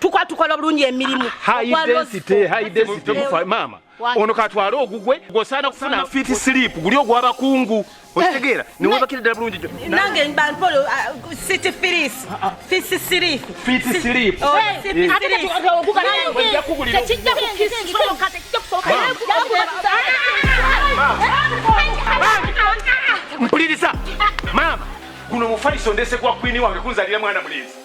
tukwa tukola bulungi emirimu maama ono katwale ogugwe gwosaana kufuna fiti silipu guli ogwabakungu eh. okitegeera newebakira ddala bulungi nange bampolo uh, city firis ah, ah. fisi silipu fiti silipu oh, mpuliriza maama guno mufaliso ndese gwa kwini wange kunzalira mwana mulenzi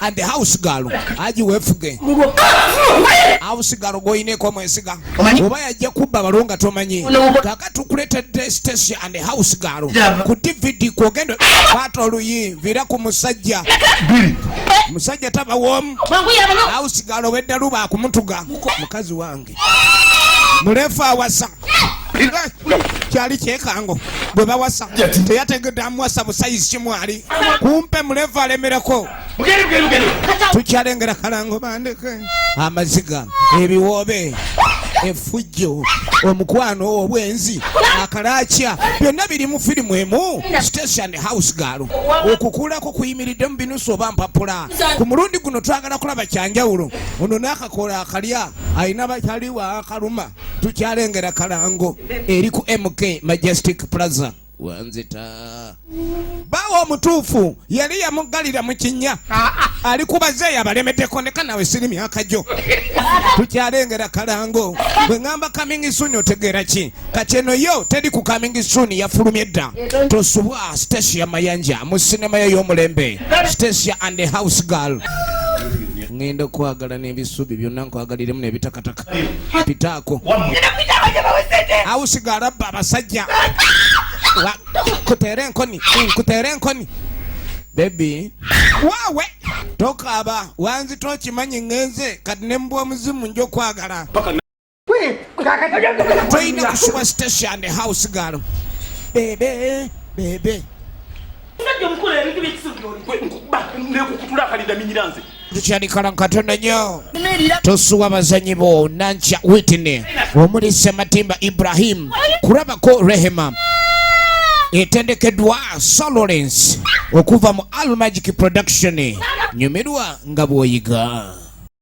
and the house girl aji wefuge house girl goine ko mwesiga oba yaje kubba balonga tomanyi kaka tukulete destesi and the house girl ku dvd ko gendo pato luyi vira ku musajja bili musajja taba wom house girl wedda luba kumutuga mukazi wangu bwatti muleefu awasa kyali kyekango bwe bawasa teyategedde amuwasa busayizi kimwali kumpe mulevu alemereko tukyalengera kalango bandeke amaziga ebiwoobe efujjo omukwano obwenzi akalakya byonna biri mu firimu emu station house gaalo okukulako kuyimiridde mu binusu oba mpapula ku mulundi guno twagala kulaba kyanjawulo ono n'akakola akalya alina bakyali wa kaluma tukyalengera kalango eri ku mk majestic plaza wanzita bawo omutuufu yali yamuggalira mu kinnya ali kubazeeyo abalemedeko ndeka nawe siri myaka gyo tukyalengera kalango bwe ŋamba kamingi suni otegeera ki kati eno yo teri ku kamingi suni yafulumye dda tosubwa stesia mayanja mu sinema yo y'omulembe stesia and the house girl ngenda okwagala n'ebisubi byonna nkwagaliremu nebitakataka pitaako awusigala abba abasajja kuteera enkoni nkuteera enkoni bebi wawe tokaaba wanzita okimanyi ngenze kati ne mbwa omuzimu nja okwagala Joshua Station house girl. Bebe, bebe. tukyalikalanga katonda nyo tosuwa abazanyi bo nankya witine omuli sematimba ibrahim kurabako rehema etendekeddwa solorence okuva mu almagic production nyumirwa nga bwoyiga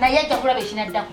naye ajja kulaba ekinaddako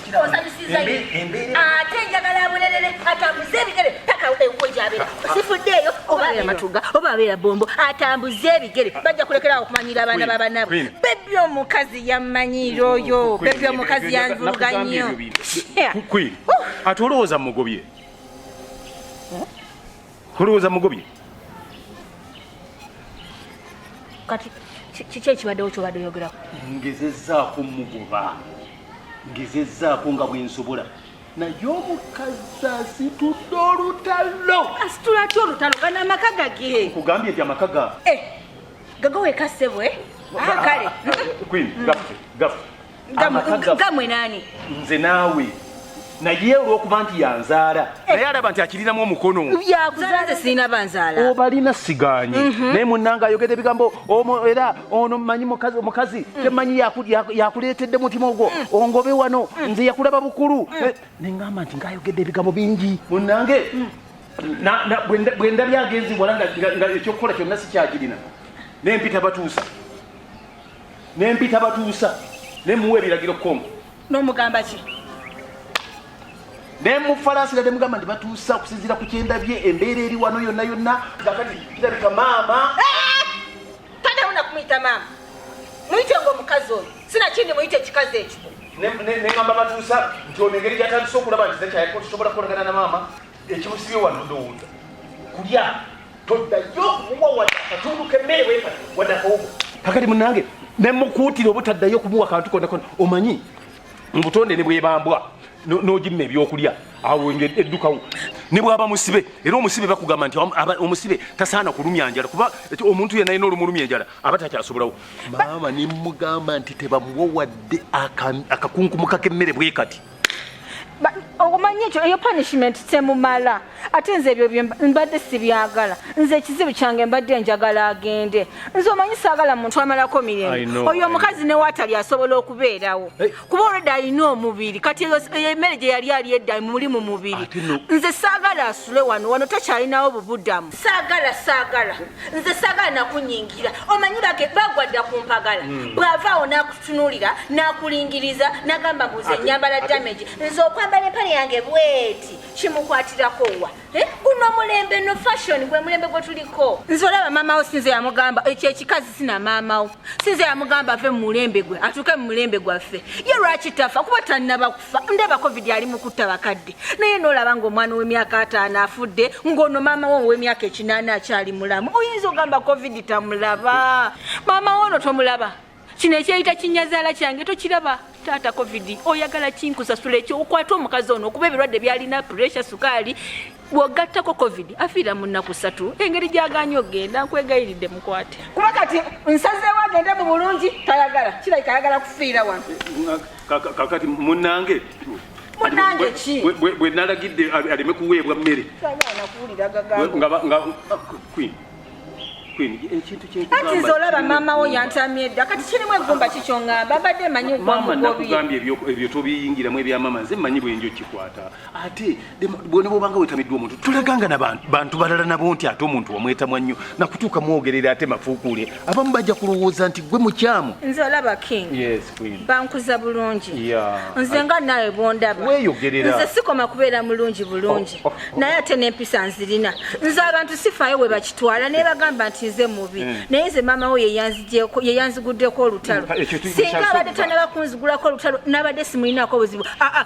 osanyusiza ate njagala abulelele atambuze ebigere paka enkuwe gyabera sifuddeeyo oba abeera matuga oba abeera bombo atambuze ebigere bajja kulekerawo okumanyira abaana babanabwe bebi omukazi yammanyira oyo bebi omukazi yanvuluga nnyo ate olowooza mugobye Mulowooza mugobye? Kati kiki ekibaddewo kyobadde oyogerako? Ngezezzaako mugoba, ngezezzaako nga bwe nsobola naye omukazi asitudde olutalo. Asitula atya olutalo? Gano amaka gage. Nkugambye nti amaka ga eh, gaga weka ssebo eh? Ah, kale. Queen, gafe, gafe. ngamwe nani nze naawe naye olwokuba nti yanzaala eh. naye alaba nti akirinamu omukono yakuzaala sirina banzaala obalina siganye mhm. naye munanga ayogede ebigambo omo era ono manyi mukazi mukazi mm. temanyi yakuleetedde mutima ogwo mm. ongobe wano mm. nze yakulaba bukulu eh, nengamba nti ngaayogedde ebigambo bingi munange bwendabyagenzi wala nga ekyokukola kyonna sikyakirina nempita batuusa ne mpita batuusa ne muwa ebiragiro kongo n'omugamba ki ne mufalaasira ne mugamba nti batuusa okusinziira ku kyendabye embeera eri wano yonna yonna nga kati kirabika maama taddamu nakumuyita maama muyite ngaomukazi oyo sinakindi muyite ekikazi ekyo neŋamba batuusa nti ono engeri gyatandise okulaba nti zekyayako tusobola kukolagana na maama ekimusibye wano ndowooza kulya toddayo kumuwa wadde akatundu kemmere weka wadde akawugo kakati munange nemukuutira obutaddayo kumuwa kantu konakona omanyi mubutonde ne bwebambwa nogimma ebyokulya awo eddukawo ne bwaba musibe era omusibe bakugamba nti omusibe tasaana kulumya njala kuba omuntu yenayina olumulumya enjala aba takyasobolawo maama nemugamba nti tebamuwa wadde akakunkumuka kemmere bwekati omanyi ekyo eyo punishment temumala ate nze ebyo mbadde sibyagala nze ekizibu kyange mbadde njagala agende nze omanyi saagala muntu amalako mirembe oyo omukazi newatali asobola okubeerawo kuba olwedda alina omubiri kati eyo emmere gye yali ali edda muli mu mubiri nze saagala asule wano wano takyalinawo bubudamu saagala saagala nze saagala nakunyingira omanyi bage bagwadda ku mpagala hmm. bw'ava awo n'akutunuulira n'akulingiriza n'agamba mbu nze nyambala damage nze okwambala empale yange bweti kimukwatirako wa eh, guno mulembe no fashion gwe mulembe gwe tuliko nze olaba maamawo sinze yamugamba ekyo ekikazi sina maamawo sinze yamugamba ave mu mulembe gwe atuuke mu mulembe gwaffe ye lwaki tafa kuba tannaba fa ndaba covid ali mu kutta bakadde naye nolaba ngaomwana ow'emyaka ataano afudde ng'ono maama wo ow'emyaka ekinaana akyali mulamu oyinza ogamba covid tamulaba maama wo ono tomulaba kino ekyeyita kinyazaala kyange tokiraba taata covid oyagala kinkusasula ekyo okwata omukazi ono okuba ebirwadde byalina puresha sukaali bwogattako covid afiira mu nnaku ssatu engeri gyaganye okugenda nkwegayiridde mukwate kuba kati nsazeewo agende mu bulungi tayagala kirabika ayagala kufiira wano kakati munange munange ki bwe nalagidde aleme kuweebwa mmere kati olaba maama wo yantamye dda kati kirimu eggumba kikyongamba mbadde manyi ebyo tobiyingiramu ebyamama nze manyi bwenjo kikwata ate bwona bwobanga wetamiddwa omuntu tulaganga na bantu balala nabo nti ate omuntu wamwetamwa nnyo nakutuuka mwogerera ate mafuukuule abamu bajja kulowooza nti gwe mukyamu nze olaba king bankuza bulungi nze nga nawe bwondaba nze sikoma kubeera mulungi bulungi oh, oh, oh. naye ate nempisa nzirina nze abantu sifayo we bakitwala naye bagamba nti nze mubi hmm. naye nze maama wo yeyanziguddeko olutalo singa abadde tanabakunzigulako olutalo nabadde simulinako obuzibu ah, ah.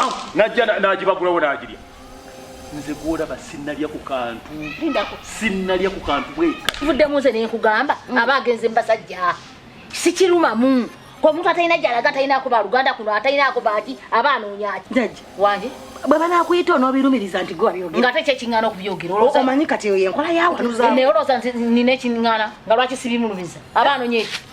ah, najja nagibagulawo nagirya nze gwolaba sinalya ku kantu sinalya ku kantu bweka vuddemu nze nenkugamba mm. aba agenze mubasajja sikirumamu omuntu atalina gyalaga atalina kuba luganda kuno atalina kuba ati aba anoonya ki jajja wange bwe banaakuyita onoobirumiriza nti gwewabyogera nga ate kyekiŋŋaana okubyogera omanyi kati eyo yenkola yawanuza naye olowooza nti nina ekiŋŋaana nga lwaki sibimulumiza aba anoonya eki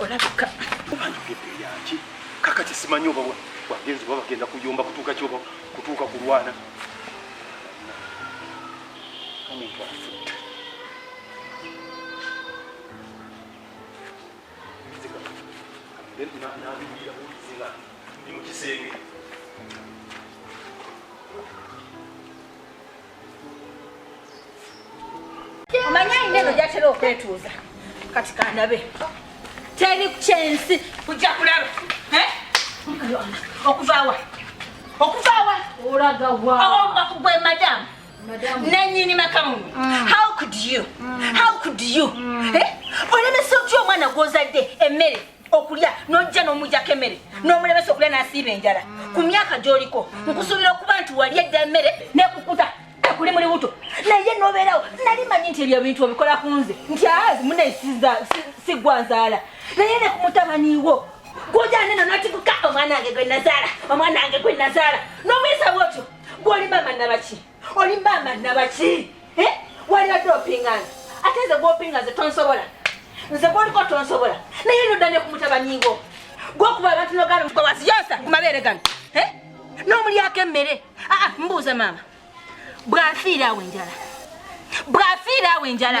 olabika yaki kaka kisimanyi oba wagenzi oba bagenda kuyomba kutuuka kyoba kutuuka kulwana omuntu afudde ndi mu kisenge omanyi ayina eno gyatera okwetuuza kati kandabe teri kyensi kujja kulaba eh? okuvaawa okuvaawa olagawakugwe oh, madamu nanyini makamuno mm. how could you mm. how could you mm. eh? olemesa otya omwana gwozadde emmere okulya nojja n'omujako emmere n'omulemesa okulya n'asiiba enjala ku myaka gy'oliko nkusuubira okuba nti wali edda emmere nekukuta ekuli muli buto naye nobeerawo nali manyi nti ebyo ebintu obikola ku nze nti azi munaye sigwa nzaala naye ne ku mutabaniwo gwojane no natikuka omwana wange gwe nazaala omwana wange gwe nazaala n'omuyisa bwotyo gwoli mama nabaki oli maama nabaki eh? walibadde opinga nze ate nze gwopinga nze tonsobola nze gwoliko tonsobola naye nodane ku mutabani wo gwokuba abantu nogana mukowasi yosa ku mabeere gano eh? n'omulyako emmere aa ah, ah, mbuuza maama bwafiira awo enjala bwafiira awo enjala